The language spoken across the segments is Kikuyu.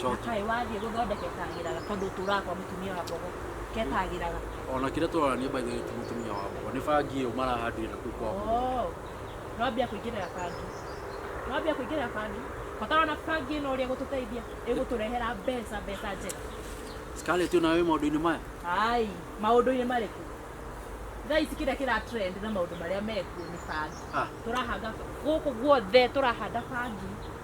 Coki. kaĩ wathiĩ gũthondeke kagĩraga tondũ ũtũraga kwa mũtumia wa mbogo ketagĩraga ona kĩrĩa tũrarania by the way ti mũtumia wa mbogo nĩ bangi ĩyo marahandire na kũu kwa mbogo Oh, nwambia kũingĩrĩra bangi nwambia kũingĩrĩra bangi batarona bangi ĩno ũrĩa ĩgũtũteithia ĩgũtũrehera mbeca mbeca njega Scarlett ona wĩ maũndũ-inĩ maya ai maũndũ-inĩ marĩkũ thaa ici kĩrĩa kĩra trend na maũndũ marĩa mekuo nĩ bangi ah tũrahanda gũkũ guothe tũrahanda bangi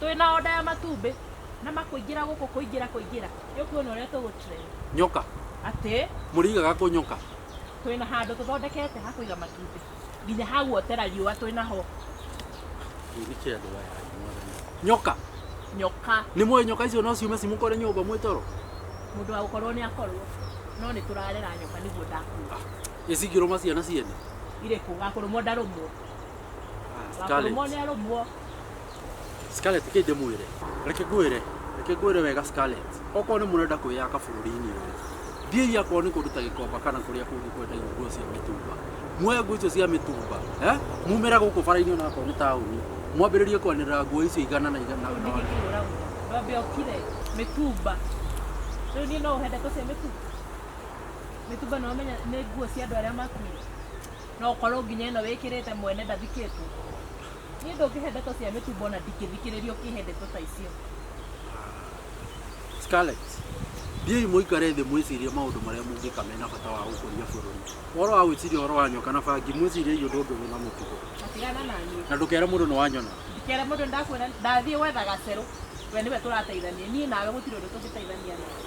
Twĩ na order ya matumbĩ na ma kũingĩra gũkũ kũingĩra kũingĩra. Rĩu kwĩna ũrĩa tũgũ trend. Nyoka. Atĩ? Mũrĩigaga kũ nyoka? Twĩ na handũ tũthondekete ha kũiga matumbĩ. Nginya ha guotera riũa twĩ na ho. Kĩu nĩ kĩa andũ aya aĩ mwathani. Nyoka. Nyoka. Nĩ mũĩ nyoka icio no ciume cimũkore nyũmba mwĩ toro? Mũndũ wa gũkorwo nĩ akorwo. No nĩ tũrarera nyoka nĩguo ndakuga. Ĩ cingĩrũma ciana ciene? Irĩkũ? Gakũrũmwo ndarũmwo. Wa kũrũmwo nĩ arũmwo. Scarlett kĩ ndĩmwĩre reke ngwĩre reke ngwĩre wega Scarlett okorwo nĩ mũrenda kwĩyaka bũrũri-inĩ ũyũ thiĩi akorwo nĩ kũndũ ta gĩkomba kana kũrĩa kũngĩ kwendagio nguo cia mĩtumba muoe nguo icio cia mĩtumba eh? mumĩra gũkũ bara-inĩ ona akorwo nĩ taũni mwambĩrĩrie kwanĩrĩra nguo icio igana na igana na- na- Wambe okire mĩtumba. Rĩu niĩ no ũhende tũce mĩtumba? Mĩtumba no ũmenya nĩ nguo cia andũ arĩa makuire. No ũkorwo nginya ĩno wĩkĩrĩte mwene ndathikĩtwo. Niĩ ndũngĩhe ndeto cia mĩtumbo na ndingĩthikĩrĩria ũkĩhe ndeto ta icio. Scarlett, thiĩi mũikare thĩ mwĩcirie maũndũ marĩa mũngĩka mena bata wa gũkũria bũrũri. Ũhoro wa gwĩciria ũhoro wa nyoka na bangi, mwĩciriei ũndũ ũngĩ wĩna mũtugo. Na tigana na niĩ. Na ndũkere mũndũ nĩ wanyona. Ndikere mũndũ nĩ ndakuona, ndathiĩ gwetha gacerũ. We nĩwe tũrateithania. Niĩ nawe gũtirĩ ũndũ tũngĩteithania naguo.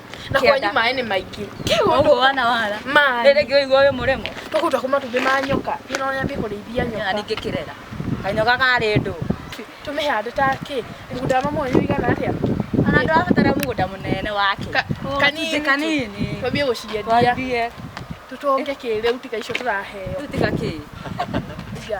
na Kĩanda. kwanyu maĩ nĩ maingĩ Koguo wana wara. maĩ Rĩrĩ ngĩ ũigua ũyũ mũremo. tũkũruta kuma tumbĩ ma nyoka ĩno ũrĩa mbĩ kũrĩithia Nyona nyoka ningĩ kĩrera. Kanyoka karĩ ndũ. tũmĩhande ta kĩ mũgũnda wa mama wanyu ũigana atĩa Ona ndũrabatara mũgũnda mũnene wake. Ka- Gũcunjĩ kanini tu. kanini. twambie gũciendia Twambie. tũtonge kĩrĩu tiga icio tũraheo Rĩu tiga kĩ. Tiga.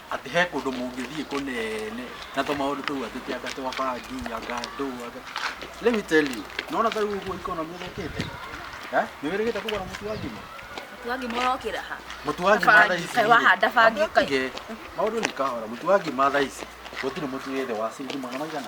Atĩ he kũndũ mũngĩthiĩ kũnene na tũmaũndũ tũu atĩ ti anga twa bangi, anga ndũũ, anga... Let me tell you, nĩwona ta rĩu ũguo economy ĩthũkĩte? Eh? Nĩwĩrĩgĩte kũgũra mũtu wa ngima? Mũtu wa ngima ũrokĩra ha? Mũtu wa ngima thaa ici. Kaĩ wahanda bangi Wambe kaĩ. ũtige. Maũndũ nĩ kahora. Mũtu wa ngima thaa ici gũtirĩ mũtu wĩ thĩ wa ciringi magana maigana?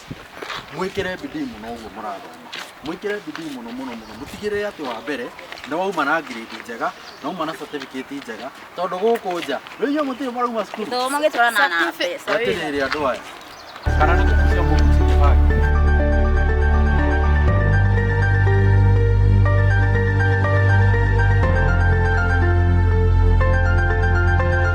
Mwĩkĩre bidii mũno ũguo mũrathoma, mwĩkĩre bidii mũno mũno mũno, mũtigĩrĩre atĩ wa mbere nĩ wauma na grade njega, na wauma na certificate njega, tondũ gũkũ nja, rĩu inyuĩ mũtirĩ mũrauma cukuru? Gĩthomo gĩtwaranaga na mbeca. Hatirĩ hĩndĩ andũ aya, kana nĩ gũkucia mũgucirie bagi.